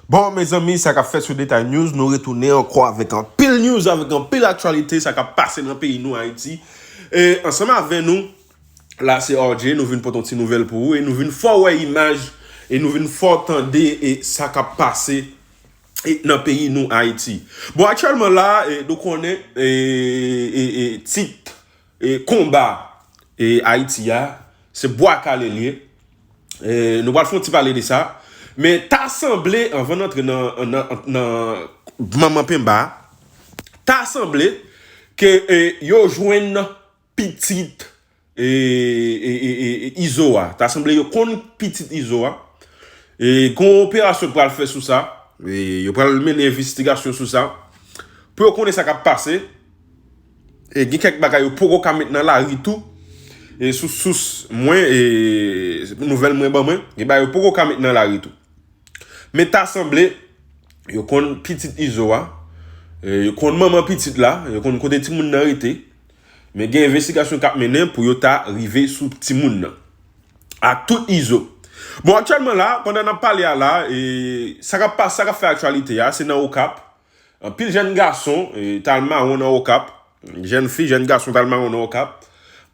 Bon mezanmi sa kap fèt sou detay news nou retounen ankò avèk anpil news avèk anpil aktyalite sa kap pase nan peyi nou ayiti e ansanm avè nou la se RJ nou vin pote yon ti nouvèl pou ou e nou vin fè w wè imaj e nou vin fè w tande e sa kap pase e nan peyi nou ayiti bon aktyèlman la nou konnen e e e tit Konba Ayiti a, se bwa kale l ye. Nou pral fè yon ti pale de sa. Men ta sanble, anvan n antre nan manman penba a, ta sanble ke yo jwenn pitit Izo a. Ta sanble yo konn pitit Izo a. Gon yon operasyon k pral fè sou sa. Yo pral mennen envestigasyon sou sa. Pou yo konnen sa k ap pase. E gen kèk bagay yo poko ka met nan lari tou. E sou sous mwen, e nouvèl mwen ban mwen, gen bagay yo poko ka met nan lari tou. Men ta sanble, yo konn pitit Izo a, yo konn manman pitit la, yo konn kote timoun nan rete. Men gen envestigasyon kap mennen pou yo ta rive sou timoun nan. Ak tout Izo. Bon aktyèlman la, pandan nap pale a la, e sa kap fè aktyalite a, se nan Okap. Anpil jèn gason t al mawon nan Okap, jèn fi, jèn gason t al mawon nan Okap.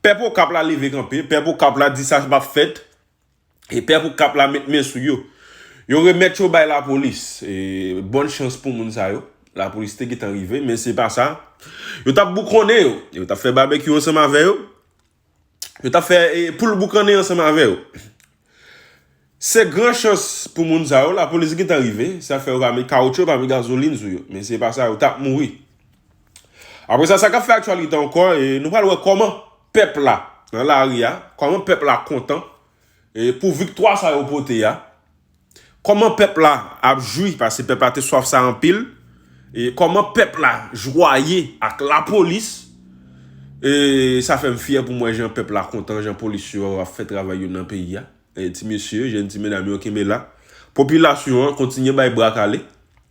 Pèp Okap la leve kanpe, pèp Okap la di sa pap fèt e pèp Okap la met men sou yo. Yo remèt yo bay lapolis. Bòn chans pou moun sa yo, lapolis te gentan rive men se pa sa. Yo t ap boukonnen yo, yo t ap fè babekyou ansanm avè yo. Yo tap fè poul boukannen ansanm avè yo. Se gran chans pou moun sa yo, lapolis gentan rive, sa fè yo pa met kawoutchou, pa met gazolin sou yo. Men se pa sa, yo tap mouri. Apre sa, sa kap fè aktyalite ankò, nou pral wè kòman pèp la nan lari a, kòman pèp la kontan pou viktwa sa yo pote a. Kòman pèp la ap jwi, pase pèp la te swaf sa anpil, e kòman pèp la jwaye ak lapolis, e sa fè m fyè pou m wè jan pèp la kontan, jan polis yo ap fè travay yo nan peyi a, ti mesye, jèn ti medam yo kenbe la, popilasyon an kontinye bay bra kale.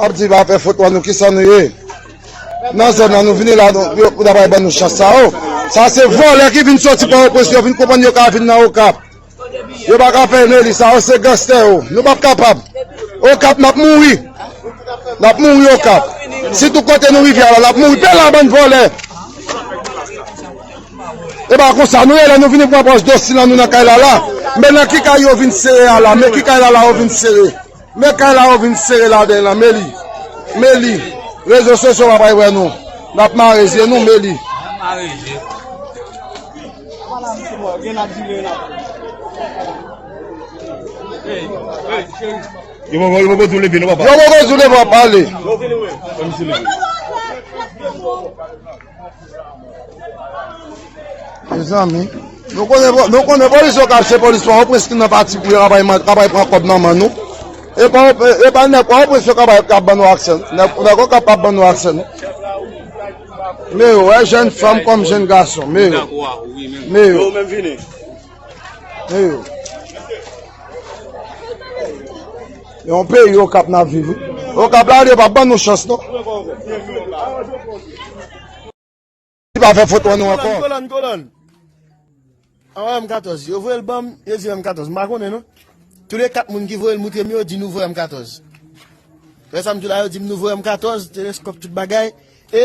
Ap di va fè foto an nou kisa nou ye. Nan zon nan nou vini la nou pou da bay ban nou chans sa ou. Sa se vòlè ki vin soti pa ou pwes yo vin koupan yo ka vin nan ou kap. Yo pa ka fè Nelly sa yo se ganstè yo nou pap kapab okap nap mouri nap mouri okap si tou kote nou rive ala nap mouri pe la bann vòlè epa konsa nou ye lè nou vini pran pòs dosi lan nou nan kay lala men nan ki kay yo vin sere ala men ki kay lala yo vin sere. Men kay la yo vin sere laden lan meli meli rezo sosyo pa bay wè nou nap mare zye nou meli. Yo poko jou leve non papa. Mezanmi Nou konnen nou konnen polis yo kap se polis pa opres ki nan pati pou yo kapay kapay pran kòb nan men nou e pa e pa nèg pa opres yo kapay kap ban nou aksè nèg nèg okap pa ban nou aksè non men yo wè jèn fanm kòm jèn gason men yo men yo Eyo. Yon pe yo kap nan vivi. Yo kap la yo pa ban nou chans non. Li pa fè fot an nou ankon. Kolon kolon. An wè m 14. Yo vwe l banm. Yo di m 14. M pa konnen non. Tou le 4 moun ki vwe l moutre m yo di nou vwe m 14. Fè sa m di la yo di m nou vwe m 14. Teleskop tout bagay. E.